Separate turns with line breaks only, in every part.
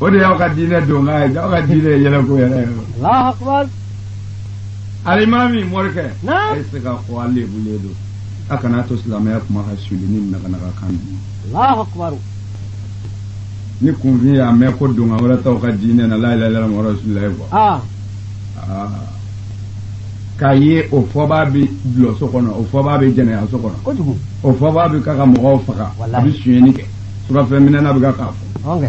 o de y'aw ka diinɛ donkan ye aw ka diinɛ ye yɛlɛko yɛrɛ ye Allahu akbar alimami morikɛ a ye se ka fɔ
a
lebulen don a kana to silamɛya kuma ka suli ni naganaga kan ye Allahu akbar ni kunfin y'a mɛn ko donkan wɛrɛ t'aw ka diinɛ na la ilaha illallah muhamadu rasulullah kɔ ah. ah. k'a ye o fɔbaa bɛ dulɔso kɔnɔ o fɔbaa bɛ jɛnɛyaso kɔnɔ o fɔbaa
bɛ ka
ka mɔgɔw faga a bɛ sonyɛni kɛ surafɛn minɛna bɛ ka k'a fɔ
ɔnkɛ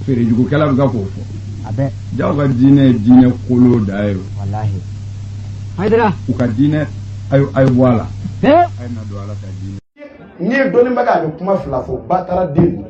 feerejugukɛla bɛ ka k'o fɔ a bɛɛ jaa aw ka
diinɛ
ye diinɛ kolon dan ye o walahi
hayidara u ka
diinɛ a ye a ye bɔ a la
he a ye
na
don ala ka
diinɛ n'i ye
dɔnnibaga
a bɛ
kuma fila
fɔ bataraden